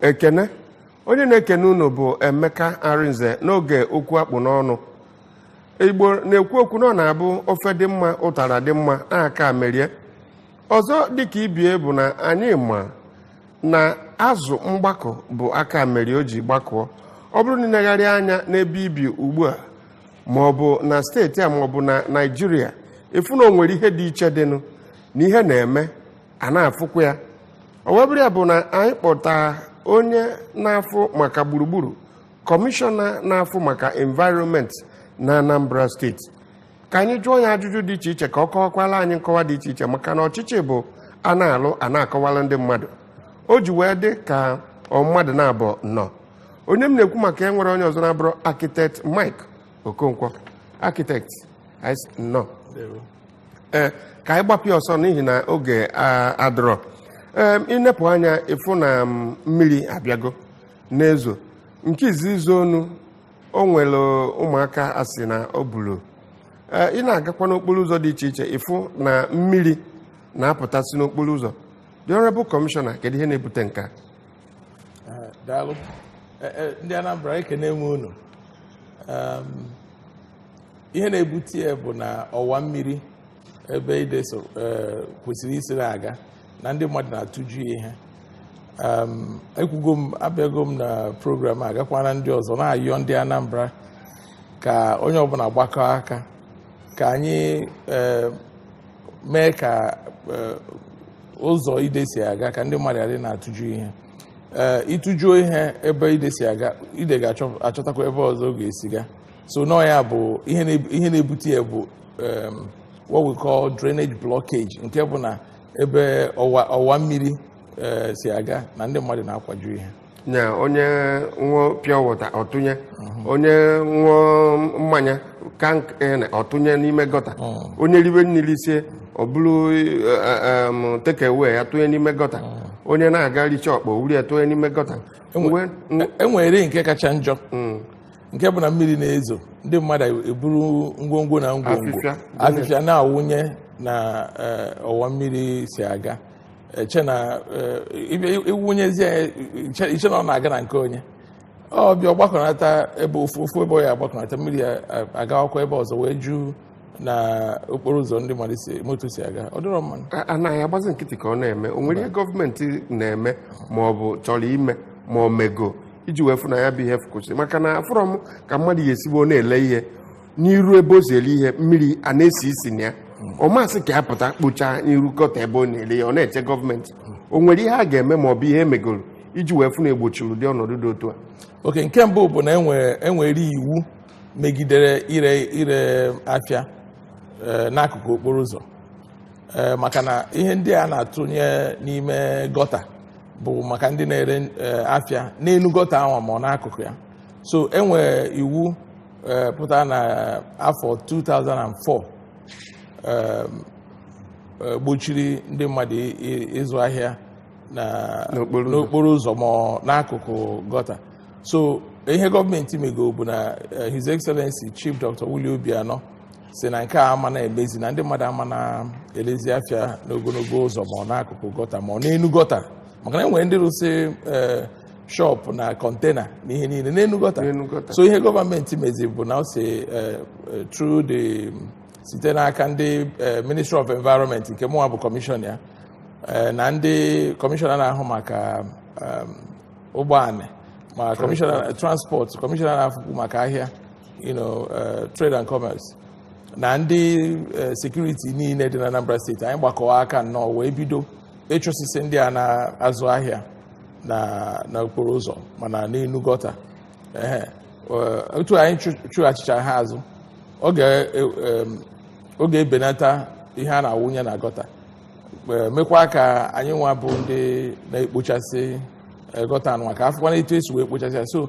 ekene onye na-ekene unu bụ emeka arinze n'oge okwu akpụ n'ọnụ igbo na-ekwu okwu na ọ na-abụ ofe dị mma ụtara dị mma aka merie ọzọ dịka ibie bụ na anyị ma na azụ mgbakọ bụ aka mere o ji gbakọọ ọ bụrụ na i legharị anya n'ebe i bi ugbu a ma ọ bụ na steeti a ma ọ bụ na naịjirịa ị fụ na o nwere ihe dị iche dịnụ na ihe na-eme a na-afụkwa ya o wee bụrụ ya bụ na anyị kpọta onye na-afụ maka gburugburu kọmishọna na-afụ maka environment na anambra steeti ka anyị jụọ ya ajụjụ dị iche iche ka ọ kọwakwala anyị nkọwa dị iche iche maka na ọchịchị bụ a na-alụ a na-akọwala ndị mmadụ o ji wee dị ka ọ mmadụ na-abụ nọ onye m na-ekwu maka ya enwerọ onye ọzọ na-abụrọ architect Mike Okonkwo architect anyị sị nnọọ ee ka anyị gbapịa ọsọ n'ihi na oge a- adịrọ ee i nepụ anya ị fụ na mm, mmiri abịago na-ezo nke izizi zoonụ o nwere ụmụaka a sị na o buru Ee, ị na-agakwa n'okporo ụzọ dị iche iche ị fụ na mmiri na-apụtasị n'okporo ụzọ the honorable commissioner kedu ihe na-ebute nke a Eh, daalụ Eh, eh, ndị anambra ekene m unu Em, ihe na-ebute ya bụ na ọwa mmiri ebe ide so eh, kwesịrị isi na-aga na ndị mmadụ na-atụju ihe um, ekwugo m abịago m na program a gakwana ndị ọzọ na-ayọ ndị Anambra ka onye ọbụla gbakọọ aka ka anyị eh, mee ka eh, ụzọ ide si aga ka ndị mmadụ adị na-atụju ihe ị tụjuo ihe ebe ide si aga ide ga-achọtakwa ebe ọzọ ọ ga-esi ga so na ọ ya bụ ihe na- ihe na-ebute ya bụ um, what we call drainage blockage nke bụ na ebe ọwa ọwa mmiri eh, si aga na ndị mmadụ na-akwaju ihe na ya onye ṅụọ pure water ọ tụnye onye ṅụọ mmanya can kene ọ tụnye n'ime gọta onye ribe nni risie o buru takeaway ya tụnye n'ime gọta onye na-aga richa ọkpa o buru ya tụnye n'ime gọta Enwe- Mgbe- e nwere nke kacha njọ nke bụ na mmiri na-ezo ndị mmadụ eburu ngwongwo na ngwongwo afịfịa na-awụnye na eh, ọwa mmiri si aga i che na eh, ị wụnyezi i che na ọ na-aga na nke onye ọ bịa gbakọnata ebe ofu ebe ọ ya agbakọnata mmiri ya eh, agawakwa ebe ọzọ wee juu na okporo ụzọ ndị mmadụ si moto si aga ọ dịrọ mma nụ A- anaghị agbazi nkịtị ka ọ na-eme o nwere ihe gọọmenti na-eme ma ọ bụ chọrọ ime ma ọ mego iji wee fụ na ya bụ ihe kwụsị maka na afụrọ m ka mmadụ ya-esi bụ ọ na-ele ihe n'iru ebe o si ele ihe mmiri a na-esi isi na ya ọ ma-asị ka ya pụta kpochaa n'iru gọta ebe ọ na-ele ihe ọ na-eche gọọmenti o nwere ihe a ga-eme ma ọ bụ ihe emegoro iji wee fụ na egbochiri ụdị ọnọdụ dị otu a okay nke mbụ bụ na enwere enwere iwu megidere ire ire afịa eh, n'akụkụ okporo ụzọ eh, maka na ihe ndị a na-atụnye n'ime gọta bụ maka ndị na-ere eh, afịa n'elu gọta ahụ ma ọ n'akụkụ ya so enwere iwu pụtara na afọ 2004 gbochiri ndị mmadụ ịzụ ahịa n'okporo ụzọ ma ọ n'akụkụ gọta so ihe gọọmenti mego bụ na eh, his excellency chief dr Willie Obianọ sị na nke a ama na-emezi na ndị mmadụ ama na-elezi afịa n'ogologo ụzọ ma ọ n'akụkụ gọta ma ọ n'elu gọta maka na enwere ndị rụsị eh, shọpụ na kọntena na ihe niile n'elu gọta so ihe gọọmenti mezi bụ na o si eh, through the site n'aka ndị eh, ministry of environment nke mụnwa bụ kọmishọna ya eh, na ndị kọmishọna na-ahụ maka um, ụgbọala ma kọmishọna transport kọmishọna na-afụkwu maka ahịa you know, eh, trade and commerce na ndị eh, sekuriti niile dị na Anambra steeti anyị gbakọwa aka nnọọ wee bido ịchụsịsị ndị a na-azụ ahịa na na okporo ụzọ ma na n'elu gọta Ehe. Eh, otu anyị chụ- chụghachịchaa ha azụ ọ ga- eh, em, ọ ga-ebenata ihe a na-awụnye na gọta e, mekwa ka anyịnwa bụ ndị na-ekpochasị e, gọta anụnwa ka afụkwana etu esi wee kpochasị ya so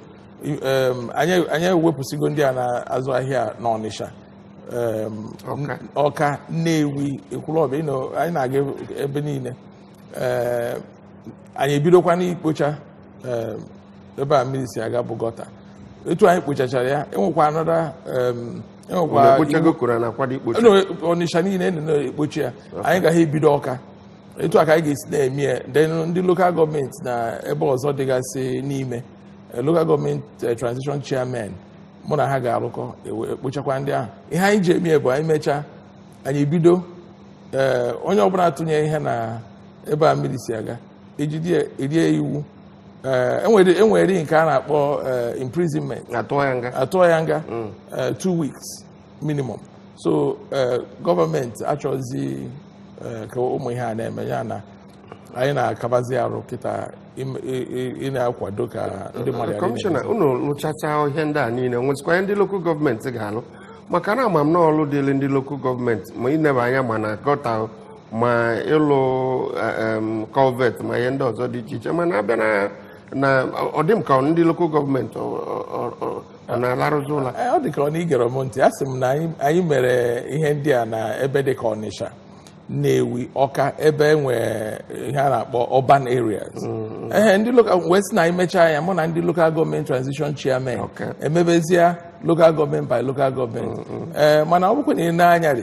anyị ewepụsịgo ndị a na-azụ ahịa n'Ọnịsha Ọka Nnewi Ekwulọbịa anyị na-aga ebe niile anyị ebidokwana ikpocha ebe a mmiri si aga bụ gọta etu anyị kpochachara ya enwekwa another E Unu nwekwara ekpochago koro na akwado ikpocha you know, Ọnịsha niile anyị na-ekpocha ya anyị ga-ebido Ọka etu a ka anyị ga-esi na-eme ya then ndị lokal gọọmenti na ebe ọzọ dịgasị n'ime eh, lokal gọọmenti eh, transition chairman mụ na ha ga-arụkọ ewe- ekpochakwa ndị ahụ ihe anyị ji eme ya bụ anyị mechaa anyị bido eh, onye ọbụla tụnye ihe na ebe a mmiri si aga ejide erie iwu eh, enwere enwere nke a na-akpọ eh, imprisonment atụọ ya nga atụọ ya nga eh, two weeks minimum so eh, gọọmenti achọzi eh, ka ụmụ ihe a na-eme ya na anyị na-akabazi arụ kịta im- i- i- ị na-akwado ka ndị mmadụ ghara kọmishọna ime. unu lụchacha ihe ndị a niile nwezikwa ihe ndị lokal gọọmenti ga-alụ maka na ama m na ọlụ dịrị ndị lokal gọọmenti ma ineba anya ma na gọta ma ịlụ em, culvert ma ihe ndị ọzọ dị iche iche mana abịa na na ọ dị m ka ndị local gọọmenti ọ- ọ- ọ- ọ- ọ na-alarụzi ụla Ee, ọ dị ka ọ na i gere m ntị a sị m na anyị anyị mere ihe ndị a na ebe dị ka ọnịsha nnewi ọka ebe e nwee ihe a na-akpọ urban areas ee ndị local wee sị na anyị mechaa ya mụ na ndị local gọọmenti transition chairman Okay. emebezie local gọọmenti by local gọọmenti ee mana ọ bụkwa na i nee anya rị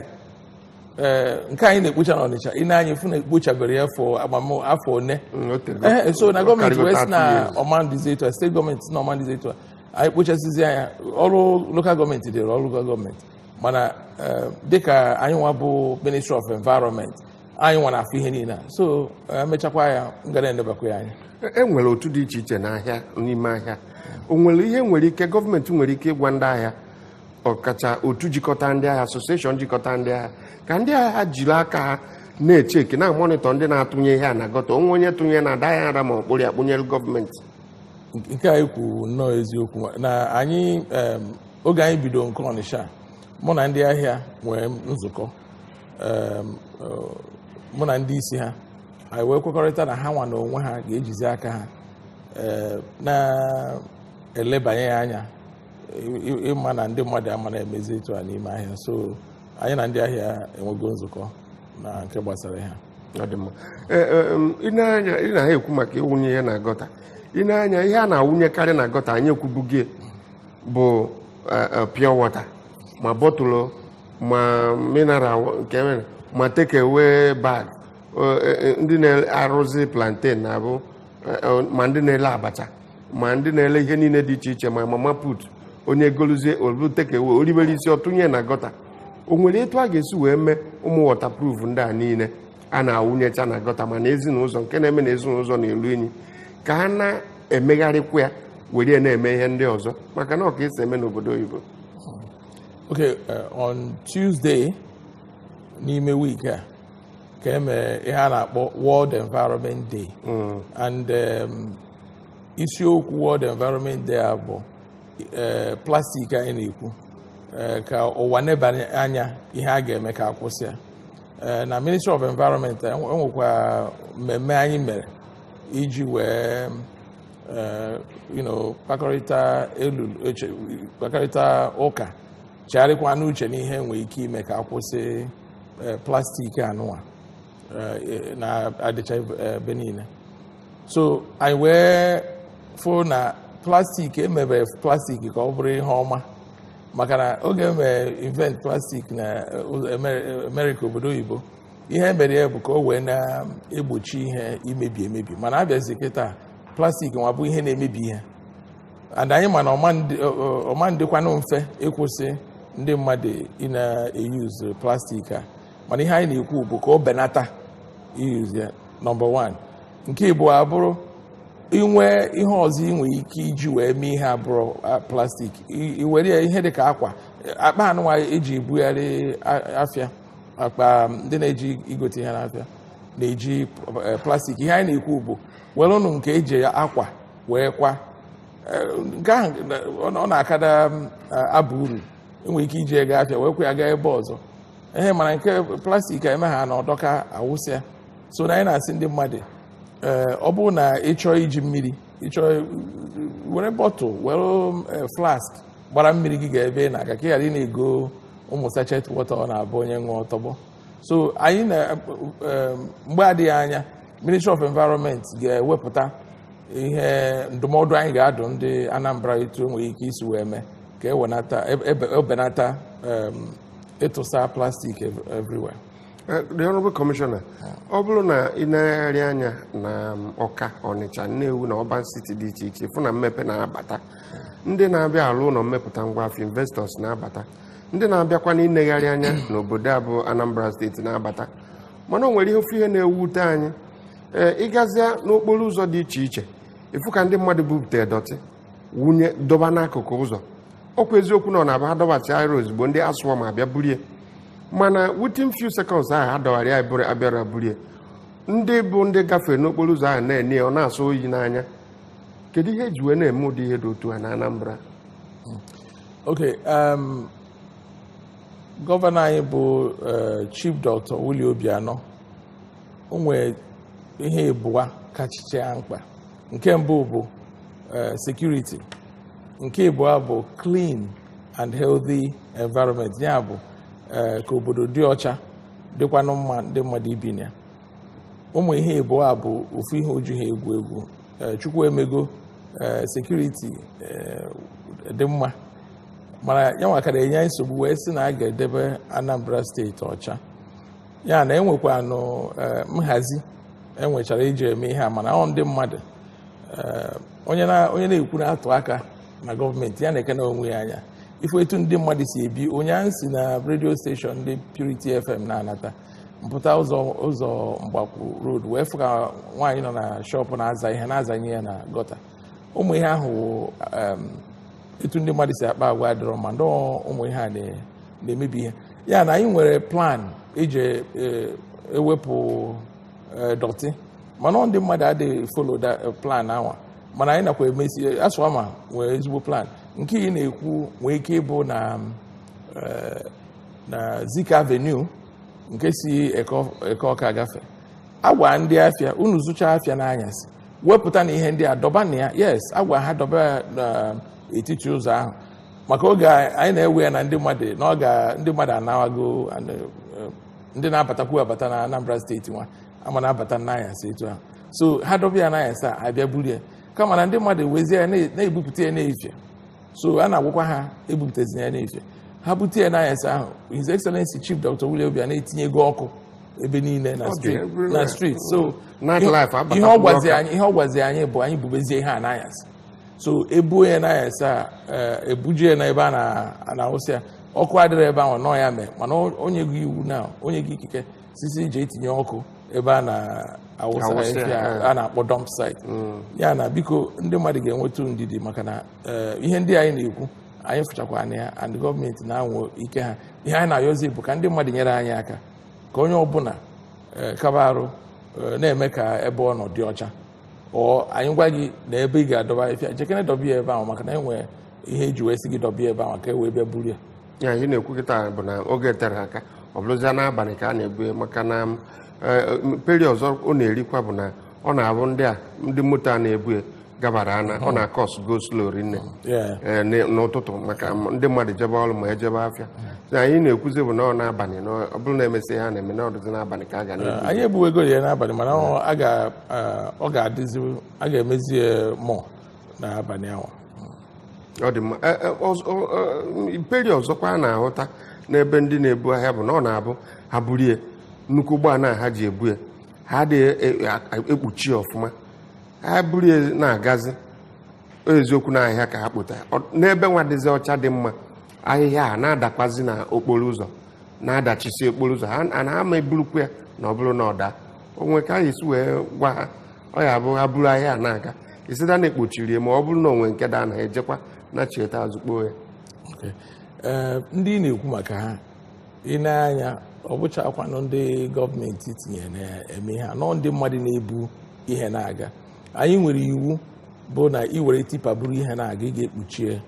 ee nke anyị na-ekpocha n'Ọnịcha i nee anya ị fụ na ekpochabere ya fọ agbam afọ one Mm, o tere- ee o- so o na gọọmenti karịgo wee sị 30 na years. ọ ma na-adịzi etu a steeti gọọmenti sị na ọ ma na-adịzi etu a anyị kpochasịzịa ya ọrụ lokal gọọmenti dịrị ọrụ lokal gọọmenti mana ee, dịka anyị nwa bụ ministry of environment anyị nwa na-afụ ihe niile a. so ee, emechakwa ya m ga na-enebakwa ya anya E- e nwere otu dị iche iche n'ahịa n'ime ahịa o nwere ihe nwere ike gọọmenti nwere ike ịgwa ndị ahịa ọkacha otu jikọta ndị ahịa asosieshọn jikọta ndị ahịa ka ndị ahịa jiri aka ha na-echeki na-amọnịtọ ndị na-atụnye ihe a na gọta o nwee onye tụnye na-ada ya nra ma ọ kpụrụ ya kpụnyere gọọmenti nke anyị kwuru nnọọ eziokwu na anyị em, oge anyị bido nke ọnịsha mụ na ndị ahịa nwere nzukọ em, ọ, mụ na ndị isi ha anyị wee kwekọrịta na ha nwa na onwe ha ga-ejizi aka ha eh, na-elebanye ya anya ịma na ndị mmadụ ama na-emezi etu a n'ime ahịa so anyị na ndị ahịa enwego nzukọ na nke gbasara ha e, e, ị na-ekwu maka ịwụnye ihe na gọta i nee anya ihe a na-awụnyekarị na gọta anyị ekwubugo ya bụ e, pure water ma bọtụlụ ma mineral nke mere ma take away bag ndị na-arụzi plantain na-abụ ma ndị na-ele abacha ma ndị na-ele ihe niile dị iche iche ma mama put onye goluzie ọ bụ take away o ribe risie ọ tụnye na gọta o nwere etu a ga-esi wee mee ụmụ wọtapruf ndị a niile a na-awụnyecha na gọta ma na ezi n'ụzọ nke na-eme na ezi n'ụzọ na-elu inyi ka a na-emegharịkwa ya were na-eme ihe ndị ọzọ maka na ọ ka esi eme n'obodo oyibo Okay, uh, on Tuesday n'ime week a ka e mere ihe a na-akpọ World Environment Day and um, isiokwu World Environment Day a bụ eh, plastik anyị na-ekwu eh, ka ụwa nebanye anya ihe a ga-eme ka akwụsị ya eh, na Ministry of Environment enwekwa mmemme anyị mere iji wee kpakọrịta ụka chegharịkwanụ uche n'ihe enwere ike ime ka akwụsị plastik anụwa na-adịcha ebe niile so anyị wee fụ na plastik emebere plastik ka ọ bụrụ ihe ọma maka na oge emere invent plastik na Amerịka obodo oyibo ihe emere ya bụ ka o wee na-egbochi ihe imebi emebi mana abịazi kịta plastik nwa bụ ihe na-emebi ihe and anyị ma na ọ ma adịkwanụ mfe ịkwụsị ndị mmadụ ị na-euse plastik a mana ihe anyị na-ekwu bụ ka o benata iuse ya nọmba 1 nke ịbụa bụrụ inwe ihe ọzọ ị nwere ike iji wee mee ihe abụrọ plastik iwere ya ihe dị ka akwa akpa anụnwa eji ebugharị afịa akpa ndị na-eje igote ihe n'afịa na-eji eh, plastik ihe anyị na-ekwu bụ welụnụ nke eji akwa wee kwa eh, nke ahụ ọ na-akada eh, aba uru enwere ike iji ego afịa werekwa ya gaa ebe ọzọ ihe mana nke plastik eme ha na ọ dọkaa awụsịa so na anyị na-asị ndị mmadụ eh, ọ bụrụ na ị chọọ iji mmiri ị chọọ were bottle were eh, flask gbara mmiri gị gaa ebe ị na-aga ka ị ghara ị na-ego ụmụ sachet water ọ na-abụ onye ṅụọ tọgbọ so anyị na eh, mgbe adịghị anya ministry of environment ga-ewepụta ihe ndụmọdụ anyị ga-adụ ndị Anambra etu enwere ike isi wee mee ka ebenata ịtụsa plastik everywhere eh, the honorable commissioner ọ bụrụ na ị negharịa anya na um, Ọka Ọnịcha Nnewi na urban city dị iche iche ị fụ na mmepe na-abata ndị na-abịa alụ ụlọ mmepụta ngwa afịa investors na-abata ndị na-abịakwa na ịnegharị anya n'obodo a bụ anambra steeti na-abata mana o nwere ihe ofu ihe na-ewute anyị ee eh, ịgazịa n'okporo ụzọ dị iche iche ịfụ ka ndị mmadụ bupụta dọtị wụnye dọba n'akụkụ ụzọ ọkwa eziokwu na ọ na-abụ adọbacha ya ozugbo ndị ASWAMA abịa burie mana within few seconds ahụ adọbara ya bụrụ abịara burie ndị bụ ndị gafere n'okporo ụzọ ahụ na-ene ya ọ na-asọ oyi n'anya kedu ihe eji wee na-eme ụdị ihe dị otu a na Anambra ok um, gọvanọ anyị bụ uh, chief doctor Willie Obianọ o nwere ihe ịbụa kachicha ya mkpa nke mbụ bụ eh, security nke ịbụọ bụ clean and healthy environment ya bụ eh, ka obodo dị ọcha dịkwanụ mma ndị mmadụ ibi na ya ụmụ ihe ịbụọ a bụ ofu ihe o jiha egwu egwu eh, Chukwu emego security dị mma mana ya nwa ka na-enye nsogbu wee sị na a ga-edebe Anambra steeti ọcha ya na e nwekwanụ eh, nhazi e nwechara iji eme ihe a mana ọ ndị mmadụ eh, onye na-ekwu na-atụ aka na gọọmenti ya nekene onwe ya anya ị fụ etu ndị mmadụ si ebi ụnyaahụ m si na redio steshọn ndị Purity FM na-anata m pụta ụzọ ụzọ Mgbakwu road wee fụ ka nwaanyị nọ na shọpụ na-aza ihe na-azanye ya na gọta ụmụ ihe ahụ etu ndị mmadụ si akpa agwa adịrọ mma nọ ụmụ ihe a na-emebi ihe ya na anyị nwere plan iji e, ewepụ e, dọtị mana ndị mmadụ adịghị follow e, plan ahụ mana anyị nakwa emesi ASWAMA nwere ezigbo plan nke ị na-ekwu nwee ike ịbụ na na Zik Avenue nke si Eke Ọka agafe agwa ndị afịa unu zụcha afịa n'anyasị wepụta na ihe ndị a dọba na ya yes agwa ha dọba ya n'etiti ụzọ ahụ maka oge anyị na-ewe ya na ndị mmadụ na ọ ga ndị mmadụ anawago eh, ndị na-abatakwu abata na Anambra steeti nwa ama na-abata n'anyasị etu ahụ so ha dọba ya n'anyasị a bịa buru ya kama na ndị mmadụ wezie ya na-ebupụta ya n'efie so a na-agwakwa ha ebupụtazina ya n'efie ha bute ya n'anyasị ahụ His Excellency Chief Dr. Willie Obianọ etinyego ọkụ ebe niile na street na street so ihe ọ gwazi anyị ihe ọ gwazi anyị bụ anyị bubezie ihe a n'anyasị so e buo ya n'anyasị a eh, ebuje ya n'ebe a na-awụsị ya ọkụ adịrọ ebe ahụ nọ ya mee mana o nyego iwu na o nyego ikike sị sị e je tinye ọkụ ebe a na-awụsa eh. a na-akpọ dump site mm. ya na biko ndị mmadụ ga-enwetụ ndidi maka na eh, ihe ndị anyị na-ekwu anyị fụchakwa anya ya and gọọmenti na-anwa ike ha ihe anyị na-ayọzi bụ ka ndị mmadụ nyere anyị aka ka onye ọbụla eh, kaba arụ eh, na-eme ka ebe ọ nọ dị ọcha ọ anyị gwa gị na ebe ị ga-adọba afịfịa jekene dọba ya ebe ahụ maka na e nwere ihe e ji wee sị gị dọba ya ebe ahụ ka e wee bịa buru ya ya ihe ị na-ekwu kịta bụ na oge eterọ aka ọ bụrụzia n'abalị ka a na-ebu ya maka na eh, mperi ọzọ ọ na-erikwa bụ na ọ na-abụ ndị a ndị moto a na-ebu ya gabara ana ọ na-acause go slow rinne Yeah. ee, n- n'ụtụtụ maka m- ndị mmadụ jebe ọrụ ma ejebe afịa So anyị na-ekwuzi bụ na ọ n'abalị na ọ bụrụ na emesịa ha na-eme na ọ dịzi n'abalị ka a ga na-ebu anyị ebuwego ya n'abalị mana ọ- a ga- ah, ọ ga-adịzi a ga-emezi ya mọ n'abalị ahụ ọ dị mma E- e, ọzọ- ọ- ọ- mperi ọzọkwa a na-ahụta n'ebe ndị na-ebu ahịhịa bụ na ọ na-abụ ha buru ya nnukwu ụgbọala a ha ji ebu ya ha adịghị e- e- ekpuchi ya ọfụma ha buru ya na-agazi o eziokwu na ahịhịa ka ha kpota n'ebe nwa dịzi ọcha dị mma ahịhịa a na-adakwazi na okporo ụzọ na-adachisi okporo ụzọ and ha ama eburukwu ya na ọ bụrụ na ọ daa o nwere ka a ga-esi wee gwa ha ọ ya bụ ha buru ahịhịa a na-aga it's either na ekpuchiri ya ma ọ bụrụ na o nwee nke daa na ha ejekwa na chieta azụ kpoo ya Okay. Ee, ndị ị na-ekwu maka ha ị nee anya ọ bụchakwanụ ndị gọọmenti tinye na-eme ihe a nọ ndị mmadụ na-ebu ihe na-aga anyị nwere iwu bụ na ị were tipa buru ihe na-aga ị ga-ekpuchie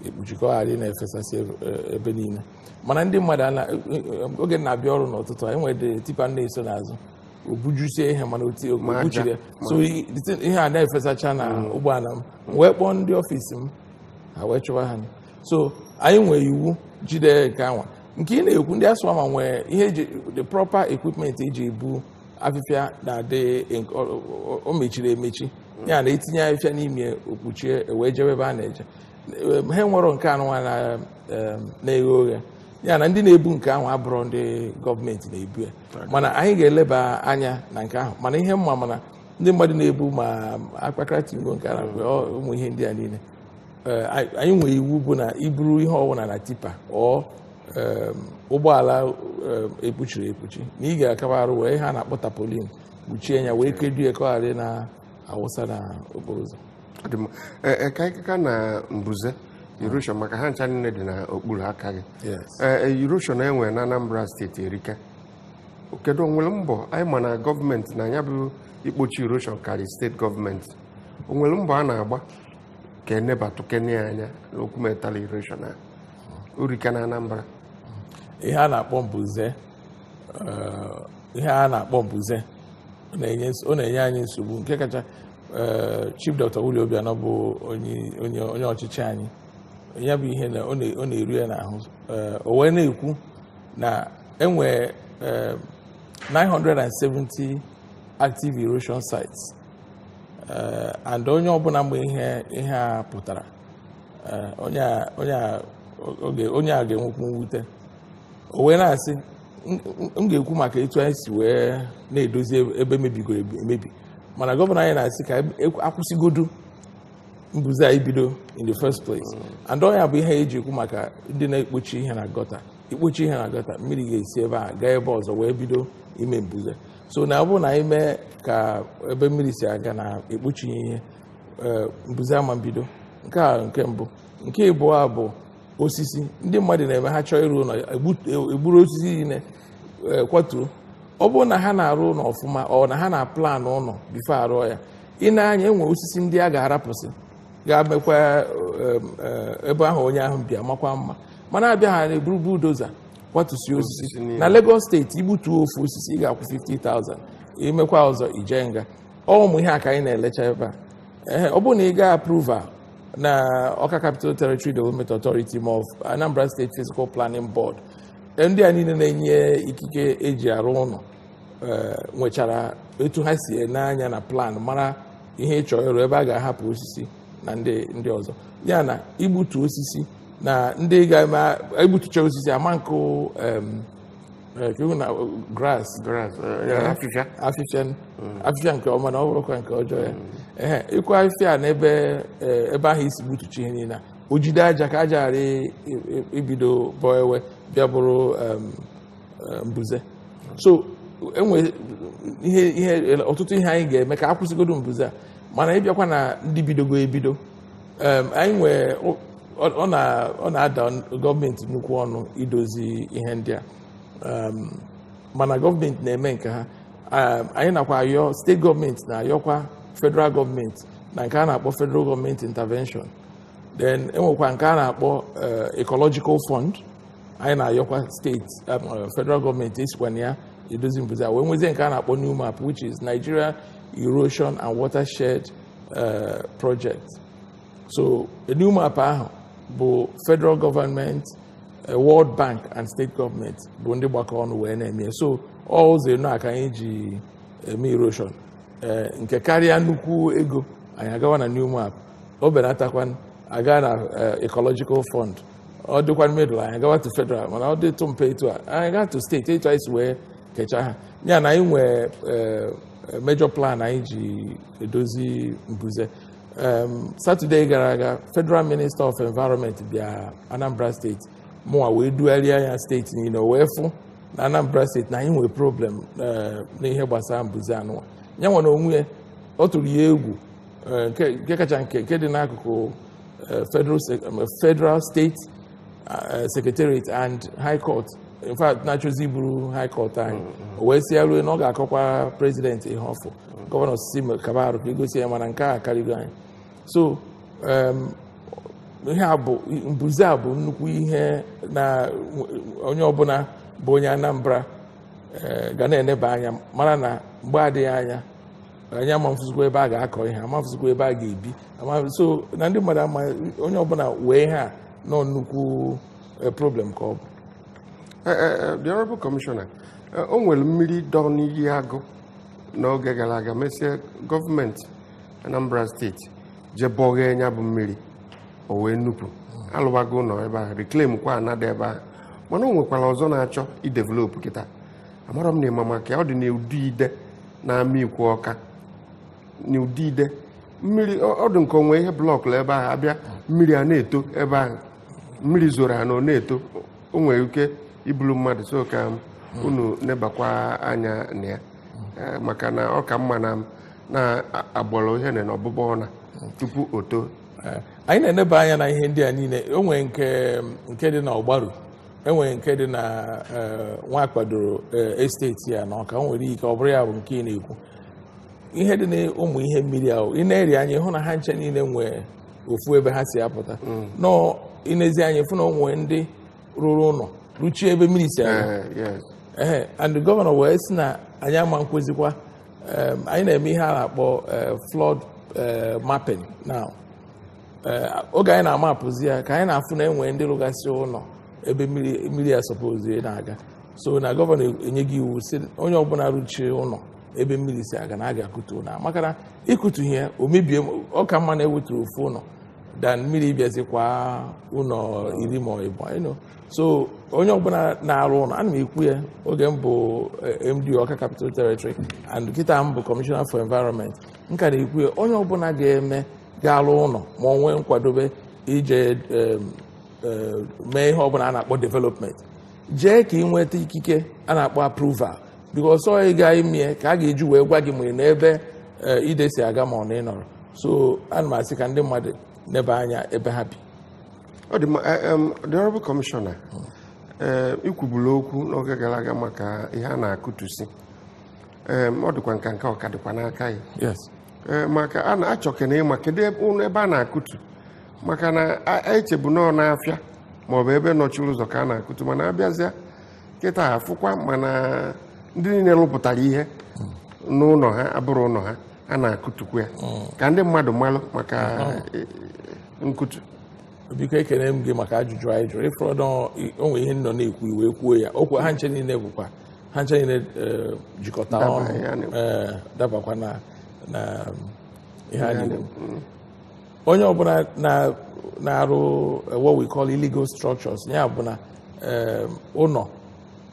ekpuchi ka ọ ghara ịna-efesasị ebe- e- ebe niile mana ndị mmadụ oge m na-abịa ọrụ n'ụtụtụ e nwere tipa m na-eso n'azụ o bujusie ihe mana o kpuchirọ ya. so i- the thing- ihe a na-efesacha na ụgbọala m m wee kpọọ ndị ọfịs m ha wee chụwa ha so anyị nwere iwu jide nke anwa nke ị na-ekwu ndị ASWAMA nwee ihe the proper equipment eji ebu afịfịa na-adị o mechiri emechi ya na etinye afịfịa n'ime o kpuchie e wee jebe ebe a na-eje ha enwerọ nke anụnwa na-eghe oghe ya na ndị na-ebu nke ahụ abụrọ ndị gọọmenti na-ebu ya mana anyị ga-eleba anya na nke ahụ mana ihe m ma ama na ndị mmadụ na-ebu ma akpakara tingo nke a na ụmụ ihe ndị a niile anyị nwere iwu bụ na i buru ihe ọwụna na tipa or ụgbọala ekpuchirọ ekpuchi na ị ga-akaba arụ were ihe a na-akpọ tarpaulin kpuchie ya wee kedo ya ka ọ ghara na-awụsa na okporo ụzọ ka anyị kaa na mbuze erosion maka ha ncha niile dị n'okpuru aka gị erosion e nwere na Anambra steeti erika kedu o nwere mbọ anyị ma na gọọmenti na ya bụ ikpochi erosion karị steeti gọọmenti o nwere mbọ a na-agba ka e nebatụkene ya anya n'okwu matter erosion a o rika na Anambra ihe a na-akpọ mbuze eh, ihe a na-akpọ mbuze ọ na-enye ns- ọ na-enye anyị nsogbu nke kacha eh, chief dr Willie Obianọ bụ onye onye onye ọchịchị anyị ya bụ ihe na ọ na- ọ na-eru ya n'ahụ Eh, o wee na-ekwu na e nwe eh, 970 active erosion sites eh, and onye ọbụla ma ihe ihe a pụtara eh, onye a- onye a- oge- onye a ga-enwekwu mwute o wee na-asị "M- m- m ga-ekwu maka etu anyị si wee na-edozi ebe- ebe mebigoro ebi- emebi mana gọvanọ anyị na-asị ka e- e- akwụsịgodu mbuze a ibido in the first place and ọ nya bụ ihe eji ekwu maka ndị na-ekpochi ihe na gọta i kpochie ihe na gọta mmiri ga-esi ebe a gaa ebe ọzọ wee bido ime mbuze so na ọ bụrụ na anyị mee ka ebe mmiri si aga na ekpuchi ihe eh, mbuze ama mbido nke a nke mbụ nke ịbụọ a bụ osisi ndị mmadụ na-eme ha chọọ ịrụ ụlọ egbu- egburu osisi niile eh, kwatuo ọ bụrụ na ha na-arụ ụlọ ọfụma or na ha na-plan ụlọ before a rụọ ya i nee anya e nwee osisi ndị a ga-arapụsị ga-emekwa eh, eh, ebe ahụ onye ahụ bi amakwa mma mana a bịa ha na-eburu bulldozer kwatusie osisi Osisi niile. na Lagos steeti i gbutuo ofu osisi ị ga-akwụ 50,000 i mekwaa ọzọ i jee nga ọ ụmụ ihe a ka anyị na-elecha ebe a Ehe, ọ bụrụ na ị gaa approval na Ọka Capital Territory Development Authority ma ọ bụ Anambra State Physical Planning Board eh, ndị a niile na-enye ikike e ji arụ ụlọ eh, nwechara etu ha si ene anya na plan mara ihe ị chọ ịrụ ebe a ga-ahapụ osisi na ndị ndị ọzọ ya na igbutu osisi na ndị ga-egbutucha osisi ama nkụ em, eh, ka iwu na grass Grass, eh, ya, afịfịa. afịfịa afịfịa nke ọma na ọ bụrụkwa nke ọjọọ ya ehe ịkụ afịfịa a n'ebe eh, ebe ahụ i si gbutucha ihe niile a, o jide aja ka aja ghara i- i- ibido bọọ wee bịa bụrụ em, eh, mbuze so e nwe ihe ihe ọtụtụ ihe anyị ga-eme ka a kwụsịgodu mbuze a mana ị bịakwa na ndị bidogo ebido em, anyị nwee ọ- ọ na- ọ na-ada gọọmenti nnukwu ọnụ idozi ihe ndị a Em, mana gọọmenti na-eme nke ha Em, anyị nakwa ayọ steeti gọọmenti na-ayọkwa federal gọọmenti na nke a na-akpọ federal gọọmenti intervention then e nwekwa nke a na-akpọ eh, ecological fund anyị na-ayọkwa steeti em, eh, federal gọọmenti e sikwa na ya edozi mbuze a wee nwezie nke a na-akpọ NEWMAP which is nigeria erosion and watershed eh, project so NEWMAP ahụ bụ federal government eh, world bank and state government bụ ndị gbakọ ọnụ wee na-eme so ọ ụzọ enọ a ka anyị ji eme erosion eh, nke karịa nnukwu ego anyị agawa na NEWMAP o benatakwanụ a gaa na ecological fund ọ dịkwa middle anyị agawa to federal mana ọ dịtụ mpe etu a anyị gaa to steeti etu anyị si wee kechaa ha ya na anyị nwee eh, major plan anyị ji edozi mbuze Em, Saturday gara aga federal minister of environment bịa anambra steeti mụnwa wee dugharịa ya steeti niile o wee fụ na anambra steeti na anyị nwee problem eh, n'ihe gbasara mbuze anụwa ya nwa n'onwe ya ọ tụrụ ya egwu eh, nke nke kacha nke nke dị n'akụkụ uh, federal, um, federal state uh, secretariat and high court in fact na-achọzi iburu high court anyị o wee sị ya ruo na ọ ga-akọkwa president ihe ọ fụ gọvanọ sị kaba arụ ka e gosi ya mana nke a karịgo anyị so um, ihe a bụ mbuze a bụ nnukwu ihe na onye ọbụla bụ onye Anambra eh, ga na-eneba anya mara na mgbe adịghị anya anyị amafụzikwa ebe a ga-akọ ihe amafụzikwa ebe a ga-ebi so na ndị mmadụ ama onye ọbụla wee ihe a na ọ nnukwu eh, problem ka ọ bụ eh, eh, the honorable commissioner o nwere mmiri dọ n'Iyi Agụ n'oge gara aga mesie gọọmenti Anambra steeti jee bọghee nya bụ mmiri o wee nupụ a lụwago ụlọ ebe ahụ reclaim kwa ana dị ebe ahụ mana o nwekwara ọzọ na-achọ idevelopụ kịta amara m na ị ma maka ya ọ dị n'ụdị ide n'Amikwo Ọka n'ụdị ide mmiri ọ ọ dị nke o nwe ihe blọkụ ebe ahụ a bịa mmiri a na-eto ebe ahụ mmiri zoro anọ na-eto o nwere ike ibulu mmadụ so ka m unu nebakwa anya na ya Eh, maka na ọ ka mma na m na-agbọrọ ihe na ọbụbọ ọna tupu o too Eh, anyị na-eneba anya na ihe ndị a niile o nwere nke nke dị na Ọgbaru e nwere nke dị na eh, Nwakpadolu eh, estate here na Ọka nwere ike ọ bụrụ ya bụ nke ị na-ekwu ihe dị na ụmụ ihe mmiri ahụ ị nezi anya ị hụ na ha ncha niile nwee ofu ebe ha si apụta mm. now ị nezi anya fụ na o nwee ndị rụrụ ụlọ rụchie ebe mmiri si aga eh, ee and gọvanọ wee sị na anyị ama nkwezikwa anyị na-eme ihe a na-akpọ flood mapping now Eh, oge anyị na-amapụzi ya ka anyị na-afụ na e nwe ndị rụgasị ụlọ ebe mmiri ya sọpozi na-aga so na gọvanọ enyego iwu sị onye ọbụla rụchie ụlọ ebe mmiri si aga na a ga-akụtu ụlọ maka na ịkụtu ihe o mebie ọ ka mma na e wetu ofu ụlọ than mmiri bịazikwa ụlọ iri ma ọ bụ ịnụ so onye ọbụla na-arụ ụlọ ana m ekwu ya oge m bụ eh, MD Ọka Capital Territory and kịta m bụ Commissioner for Environment m ka na-ekwu ya onye ọbụla ga-eme ga-alụ ụlọ ma ọ nwee nkwadobe ije eh, mee ihe ọbụla a na-akpọ development jee ka ị nweta ikike a na-akpọ approval because ọ ị gaa ime ya ka a ga-eji wee gwa gị ma ị nọ n'ebe eh, ide si aga ma ọ na ị nọrọ so ana m asị ka ndị mmadụ neba anya ebe ha bi ọ dị mma eh, em, the honorable commissioner ee i kwubula okwu n'oge gara aga maka ihe a na-akụtusi em, ọ dịkwa nka nka ọ ka dịkwa n'Ọka here yes Ee, maka a na-achọkene ịma kedu ebe ụlọ ebe a na-akụtu maka na a- a echebu nọọ n'afịa maọbụ ebe nọchiri ụzọ ka a na-akụtu mana abịazịa kịta afụkwa mana ndị niile rụpụtara ihe n'ụlọ ha abụrụ ụlọ ha a na-akụtu kwuo ya ka ndị mmadụ malụ maka eh, nkụtu biko ekene m gị maka ajụjụ a ị jụrụ ị fụrụ na o nwe ihe nọ na-ekwu i wee kwuo ya okwu ha ncha niile bụkwa ha ncha niile eh, jikọta daba ọnụ ihe a na-ekwu. eh, dabakwa na na ihe a na-ekwu onye ọbụla na- na-arụ eh, what we call illegal structures ya bụ na eh, ụlọ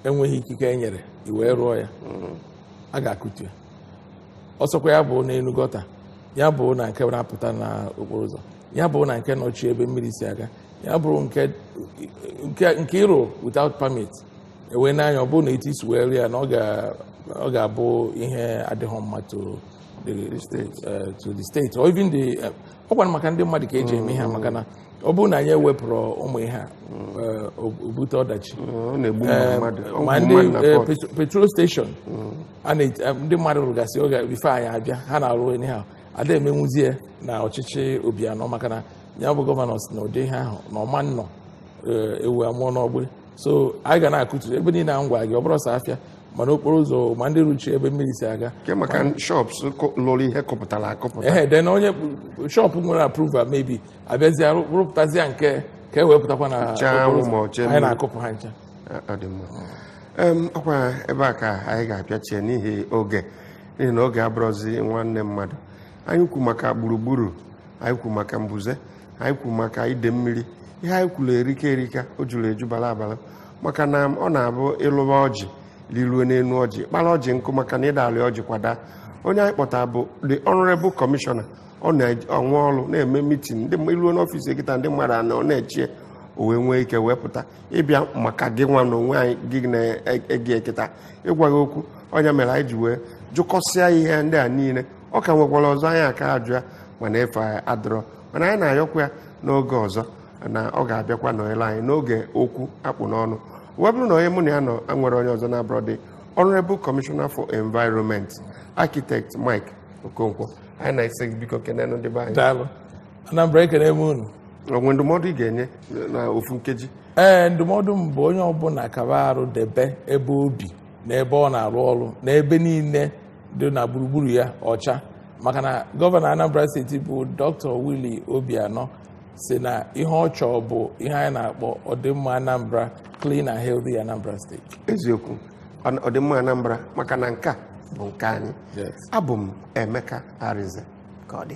enweghị ikike e nyere i wee rụọ ya a ga-akụtu ya ọ sọkwa ya bụ n'elu gọta ya bụ na nke na-apụta na okporo ụzọ ya bụrụ na nke nọchi ebe mmiri si aga ya bụrụ nke ị rụ without permit ewe n'anya ọ bụrụ na etu i si wee rụ ya na ọ ga-abụ ihe adịghị mma to the state or even the uh, ọkwa maka ndị mmadụ ka eji eme ihe maka na ọ bụrụ na anyị ewepụrọ ụmụ ihe a uh, o bute ọdachi um, ma ndị uh, petrol station mm. ndị mmadụ rụgasị oge bifo anyị abịa ha na-arụ ihe ahụ ada emenwuzi ya na ọchịchị Obianọ maka na ya bụ gọvanọ sị na ụdị ihe ahụ na ọ ma nọ eh, ewu amụọ n'ọgbụ so anyị ga na-akụtu ebe niile a m gwa gị ọ bụrọ sọ afịa ma n'okporo ụzọ ma ndị rụchi ebe mmiri si aga maka shops lụrụ ihe kọpụtara akọpụta ee then onye shop nwere approval maybe abịazie rụpụtazie nke ka e wee pụtakwa na anyị na-akụpụ ha ncha ọkwa ebe a ka anyị ga-apịachie n'ihi oge n'ihi na oge abụrụzi nwanne mmadụ anyị kwu maka gburugburu anyị kwu maka mbuze anyị kwu maka ide mmiri ihe anyị kwuru erika erika o juru eju bara abara maka na ọ na-abụ ị lịwa ọjị lịruo n'elu ọjị kpara ọjị nkụ maka na ị da-alị ọjị kwa daa onye anyị kpọtara bụ the honorable commissioner ọ na-enwe ọrụ na-eme mitin i luo n'ọfịs ya kịta ndị mmadụ anọ na-eche ya o wee nwee ike wee pụta ịbịa maka gị nwa na onwe anyị gị na-ege ya kịta ịgwa gị okwu ọ nya mere anyị ji wee jụkọsịa ihe ndị a niile ọ ka nwekwara ọzọ anyị aka ajụ ya mana efe adịrọ mana anyị na-ayọkwa ya n'oge ọzọ na ọ ga-abịakwa nọnyere anyị n'oge okwu a kpụ n'ọnụ wee bụrụ na onye mụ na ya nọ enwerọ onye ọzọ na-abụrọ the Honorable Commissioner for Environment Architect Mike Okonkwo anyị na-asị gị biko kenenụ ndị be anyị Daalụ. Anambra ekene m unu o nwe ndụmọdụ ị ga-enye na ofu nkeji ee ndụmọdụ m bụ onye ọbụla kaba arụ debe ebe o bi na ebe ọ na-arụ ọrụ na ebe niile dị na gburugburu ya ọcha maka na gọvanọ Anambra steeti bụ Dr. Willie Obianọ sị na ihe ọ chọọ bụ ihe anyị na-akpọ ọdịmma Anambra clean and healthy Anambra State eziokwu ọ- ọdịmma Anambra maka na nke a bụ nke anyị Yes. abụ m Emeka Arinze ka ọ dị